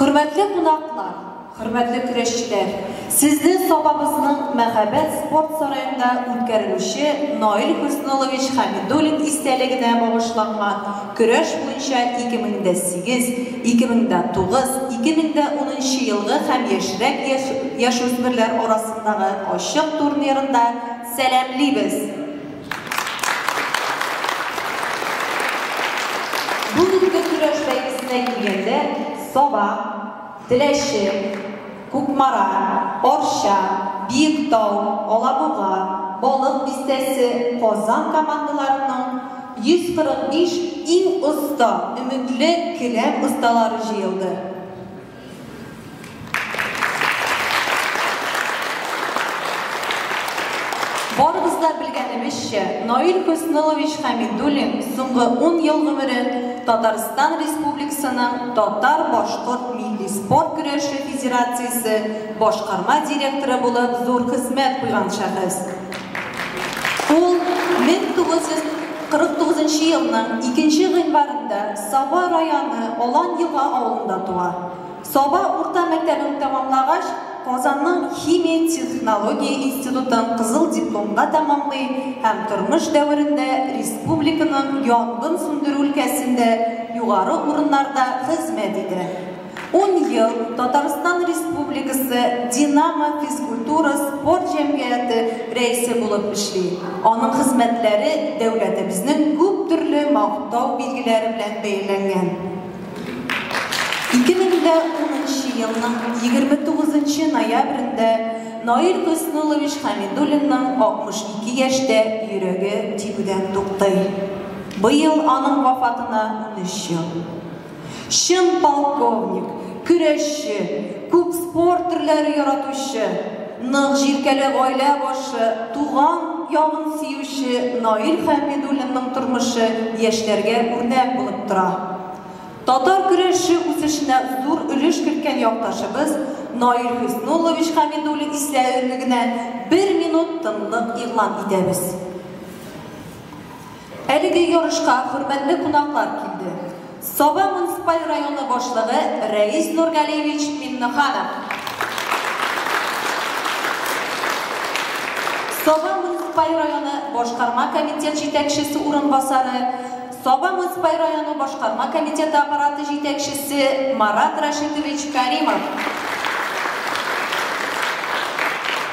Хөрмәтле кунаклар, хөрмәтле көрәшчеләр, сезне Сабабызның мәһабәт спорт сараенда үткәрелүче Наил Хөснуллович Хәмидуллин истәлегенә багышланган көрәш буенча 2008, 2009, 2010 елгы һәм яшьрәк яшүсмерләр арасындагы ачык турнирында сәламлибез! Бу көзге көрәш бәйгесенә килгәндә, Саба, Теләче, Кукмара, Арча, Биектау, Алабуга, Балык Бистәсе, Казан командаларының 145 иң оста, өметле келәм осталары җыелды. Барыбыз да белгәнебезчә, Наил Хөснылович Хәмидуллин соңгы 10 ел гомерен Татарстан Республикасының Татар-башкорт милли спорт көрәше федерациясе башкарма директоры булып зур хезмәт куйган шәхес. Ул 1949 нчы елның икенче гыйнварында Саба районы Алан Елга авылында туа. Саба урта мәктәбен тәмамлагач, Казанның Химия технология институтын кызыл дипломга тәмамлый һәм тормыш дәверендә республиканың янгын сүндерү өлкәсендә югары урыннарда хезмәт итә. Ун ел Татарстан Республикасы Динамо физкультура спорт җәмгыяте рәисе булып эшли. Аның хезмәтләре дәүләтебезнең күп төрле мактау билгеләре белән бәяләнгән. 2010 елның 29 ноябрендә Наил Хөснуллович Хәмидуллинның 62 яшьтә йөрәге тибүдән туктый. Быел аның вафатына унөч ел. Чын полковник, көрәшче, күп спорт төрләре яратучы, нык җилкәле гаилә башы, туган ягын сөюче Наил Хәмидуллинның тормышы яшьләргә үрнәк булып тора. Татар көрәше үсешенә зур өлеш керткән якташыбыз Наил Хөснуллович Хәмидуллин истәлегенә бер минут тынлык игълан итәбез. Әлеге ярышка хөрмәтле кунаклар килде. Саба муниципаль районы башлыгы Рәис Нургалиевич Миннеханов, Саба муниципаль районы башкарма комитет җитәкчесе урынбасары, Саба муниципаль районы башкарма комитеты аппараты җитәкчесе Марат Рәшитович Кәримов,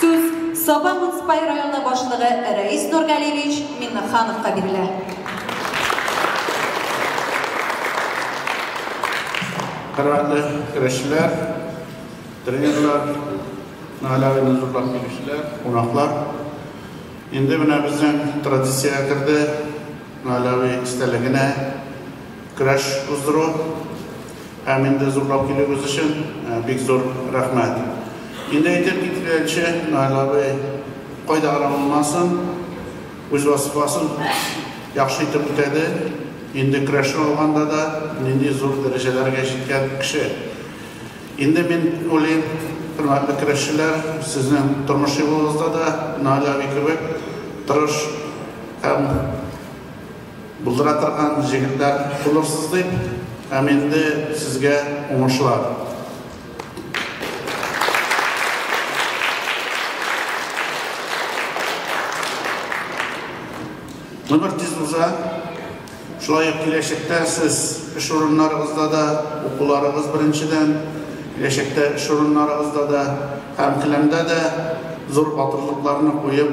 Сүз Саба муниципаль районы башлыгы Рәис Нургалиевич Миннехановка бирелә. Хөрмәтле көрәшчеләр, тренерлар, Наля уены зурлап килүчеләр, кунаклар. Инде менә безнең традициягә керде Наля истәлегенә көрәш уздыру һәм инде зурлап килүегез өчен бик зур рәхмәт. Инде әйтеп киткәнче, Наил абый кайда гына булмасын, үз вазифасын яхшы итеп үтәде. Инде көрәшне алганда да нинди зур дәрәҗәләргә җиткән кеше. Инде мин уйлыйм, хөрмәтле көрәшчеләр, сезнең тормыш юлыгызда да Наил абый кебек тырыш һәм Булдыра торган җегетләр булырсыз дип һәм инде сезгә уңышлар. Гомер тиз уза, шулай ук киләчәктә сез эш урыннарыгызда да, укуларыгыз беренчедән, киләчәктә эш урыннарыгызда да һәм келәмдә дә зур батырлыкларны куеп,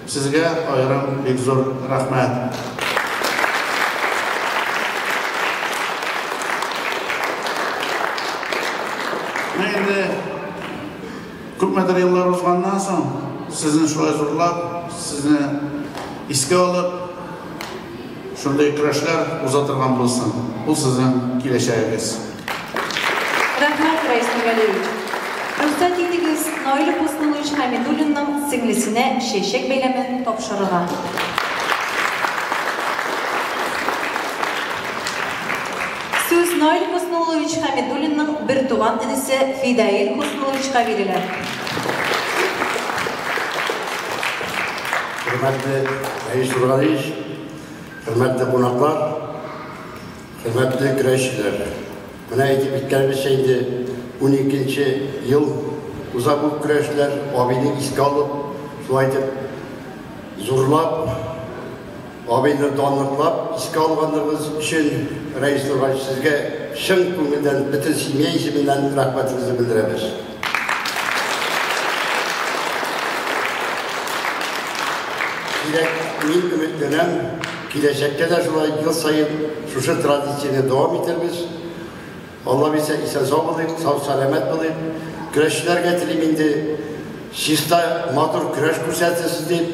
Сезгә аерым бик зур рәхмәт. Менә инде күпмедер еллар узганнан соң, сезне шулай зурлап, сезне искә алып, Шундый көрәшләр уза торган булсын. Ул сезнең киләчәгегез. Рәхмәт, Раис Нургалиевич. Рөхсәт итегез, Наил Хөснуллович Хәмидуллинның сеңлесенә чәчәк бәйләмен тапшырырга. Сүз Наил Хөснуллович Хәмидуллинның бертуган энесе Фидаил Хөснулловичка бирелә. Хөрмәтле Раис Нургалиевич, Хөрмәтле кунаклар, хөрмәтле көрәшчеләр, менә әйтеп киткәнебезчә инде 12 нче ел уза бу көрәшләр, абыйны искә алып, шулай итеп зурлап, абыйны данлыклап искә алганыбыз өчен Рәис Нургач сезгә чын күңелдән бөтен семья исеменнән рәхмәтебезне белдерәбез. Дирәк, мин өметләнәм, киләчәктә дә шулай ел саен шушы традицияне дәвам итәрбез. Алла бирсә, исән сау булыйк, сау-сәламәт булыйк. Көрәшчеләргә телим инде чиста матур көрәш күрсәтсез дип,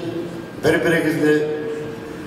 бер-берегезне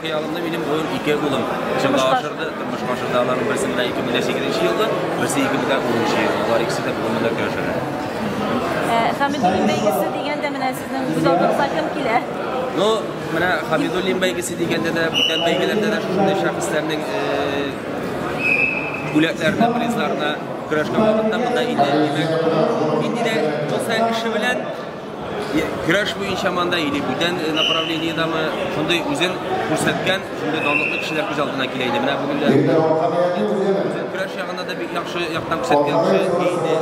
Хыялымны минем булыр ике улым. Тормышка ашырды, тормышка ашырды. Аларның берсе менә 2008 елда, берсе 2010 елда. Алар икесе дә бүгенге дә көрәшәләр. Хәмидуллин бәйгесе дигәндә менә сезнең күз алдыгызга кем килә? Ну, менә Хәмидуллин бәйгесе дигәндә дә, бүтән бәйгеләрдә дә шушындый шәхесләрнең бүләкләренә, призларына көрәшкән вакытта монда инде, димәк, нинди дә булса эше белән Көрәш буенча манда или бүтән э, направлениедамы шундый үзен күрсәткән, шундый данлыклы кешеләр күз алдына килә иде. Менә бүген дә көрәш ягында да бик яхшы яктан күрсәткән кеше иде.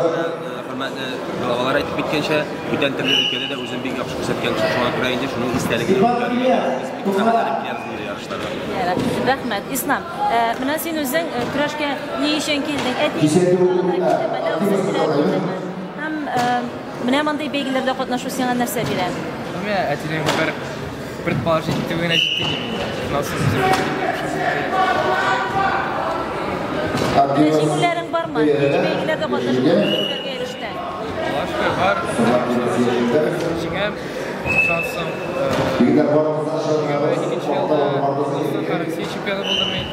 Хөрмәтле балалар әйтеп киткәнчә, бүтән төрле өлкәдә дә үзен бик яхшы күрсәткән кеше шуңа күрә инде шуның истәлеге. Рәхмәт, Ислам. Э, менә син үзең э, көрәшкә ни өчен килдең? Әти, Менә мондый бәйгеләрдә катнашу сиңа нәрсә бирә? Менә әтинең бер бер палаш итүе генә җитте дип инде. Насыз үзем Җиңүләрең бармы? Нинди бәйгеләрдә катнашып җиңүләргә ирештең? Башка бар. Җиңәм, шансым. Егетләр бар. Икенче елда Россия чемпионы булдым мин.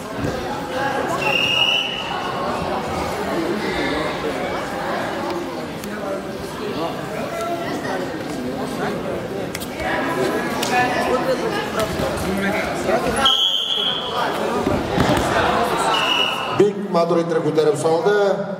Бик матур иттереп күтәреп салды.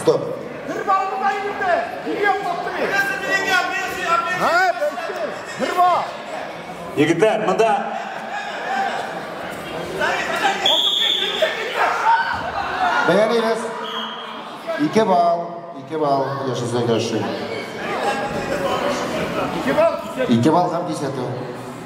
Стоп. Егетләр, монда Бәялейбез. Ике бал, ике бал яшәсә яши. Ике бал, ике бал һәм кисәтү.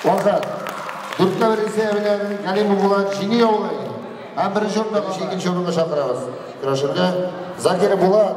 Вахат, дүрткә бер исә белән Галимов Булат җиңү яулый. Һәм беренче урында икенче урынга чакырабыз. Көрәшергә Закир Булат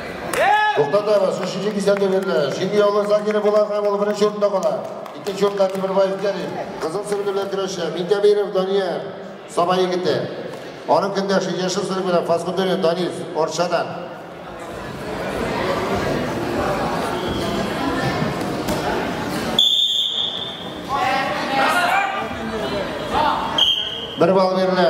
Туктатабыз, өченче кисәтү бирелә. Җиңү яулыгы Закиров була һәм ул беренче урында кала. Икенче урында Тимербаев Кәрим. Кызыл сөлге белән көрәшә Минтәбиров Данияр, Саба егете. Аның көндәше, яшел сөлге белән Фасхутдинов Данис, Арчадан. Бер балл бирелә.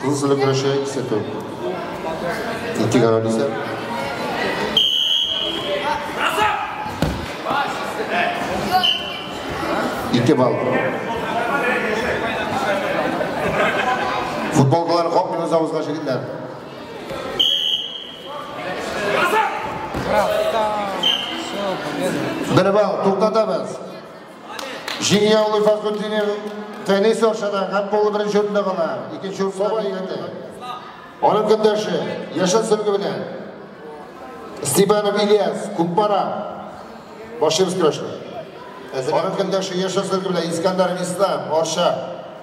Кыз өлгереше сүтү. Ике гәүдә дисә. Ике балл. Футболкалар капмый үз авызга җигеннәр. Бер балл, туктатабыз. Җиңү яулый Фахрутдинов Фәнис Аршадан һәм полы беренче урында кала. Икенче урында Бәйгәтә. Аның көндәше Яшел Сөлге белән Степанов Ильяс, Күкпара. Башыбыз көрәште. Аның көндәше Яшел Сөлге белән Искандаров Ислам, Арша.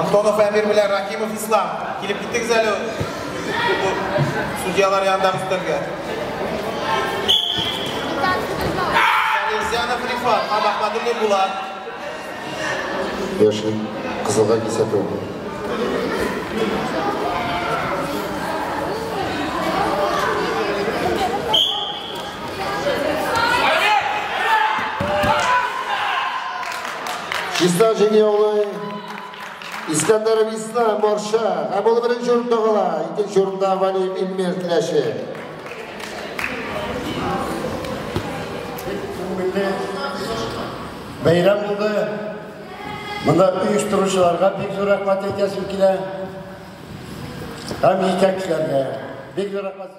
Антонов Әмир белән Ракимов Ислам. Килеп киттегез әле судьялар янындагы өстәлгә. Салезянов Рифат, Абахмадуллин Булат. Яшьлек кызылга кисәтү. Чиста җиңе яулый. Искәндәр Висна, Марша. Һәм ул беренче урында кала. Икенче урында Валим Илмир Теләче. Күңелле Бәйрәм булды. Монда оештыручыларга бик зур рәхмәт әйтәсем килә. Һәм җитәкчеләргә бик зур рәхмәт.